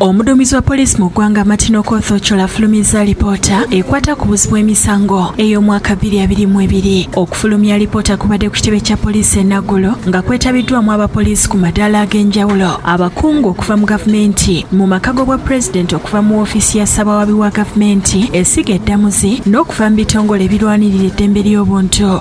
omuduumizi wa poliisi mu ggwanga martin okoth ocola afulumizza alipoota ekwata ku buzi bw'emisango ey'omwaka 22 okufulumya alipoota kubadde ku kitebe kya poliisi enaggulo nga kwetabiddwamu abapoliisi ku madaala ag'enjawulo abakungu okuva mu gavumenti mu maka g'obwa pulezidenti okuva mu ofiisi ya ssabawaabi wa gavumenti esiga eddamuzi n'okuva mu bitongole ebirwanirira eddembe ly'obuntu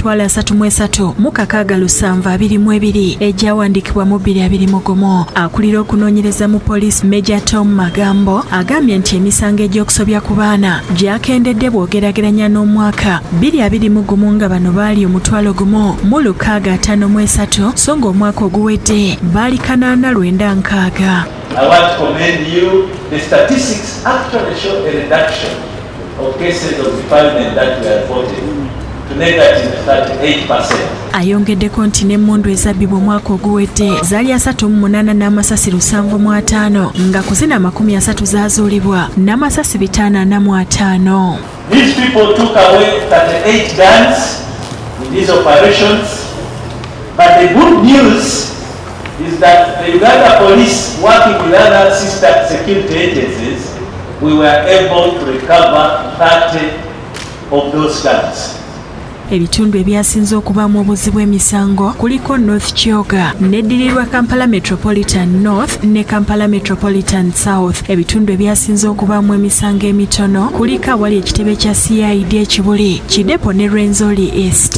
twala asatu mu esatu mu kakaaga lusanvu abiri mu ebiri egyawandiikibwa mu bbiri abiri mu gumu akulira okunoonyereza mu poliisi meja tom magambo agambye nti emisango egy'okusobya ku baana gyakendedde bw'ogerageranya n'omwaka bbiri abiri mu gumu nga bano baali omutwalo gumu mu lukaaga ataano mu esatu so ng'omwaka oguwedde baali kanaana lwenda nkaaga I want to commend you. The statistics actually show a reduction Ayongeddeko nti n'emmundu ezabbibwa omwaka oguwedde zaali asatu mu munaana n'amasasi lusanvu mu ataano nga ku zino amakumi asatu zaazuulibwa n'amasasi bitaano ana mu ataano is that the Uganda police working with other sister security agencies, we were able to recover 30 of those guns. Ebitundu ebyasinze okubaamu obuzibu emisango kuliko North Kyoga neddirirwa Kampala Metropolitan North ne Kampala Metropolitan South. Ebitundu ebyasinze okubaamu emisango emitono kuliko awali ekitebe kya CID ekibuli Kidepo ne Rwenzori East.